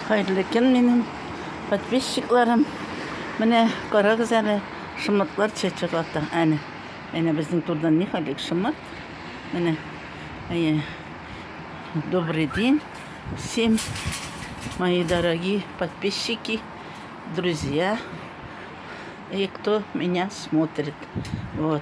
Хәерле көн минем подписчикларым. Менә карагыз әле, шымытлар чәчәк ата. Әне. Әне безнең турдан ни халик шымыт. Менә. Әйе. Добрый день всем, мои дорогие подписчики, друзья и кто меня смотрит. Вот.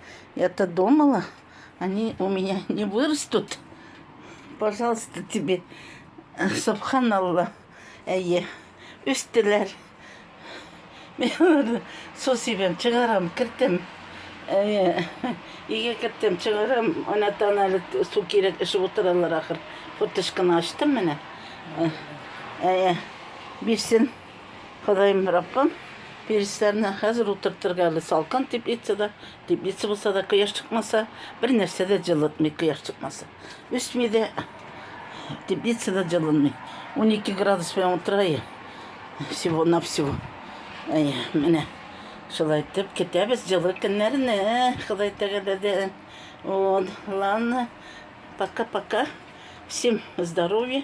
Я-то думала, они у меня не вырастут. Пожалуйста, тебе. Э, Субханалла. Әйе. Үстеләр. Мен аларны су сибәм, чыгарам, кертәм. Әйе. Өйгә кертәм, чыгарам. Ана тана әле су кирәк, эчеп утыралар ахыр. Форточканы ачтым менә. Э, Әйе. Бирсен. Ходаем Раббым, перисләрне хәзер утыртырга әле салкын теплица да, теплица булса да кояш чыкмаса, бер нәрсә дә җылытмый кояш чыкмаса. Үсми дә, теплица да җылынмый. 12 градус белән утырайы. Всего на всего. Әй, менә шулай итеп көтәбез җылы көннәрне, Ходай тәгаләдән. Вот, ладно. Пока-пока. Всем здоровья.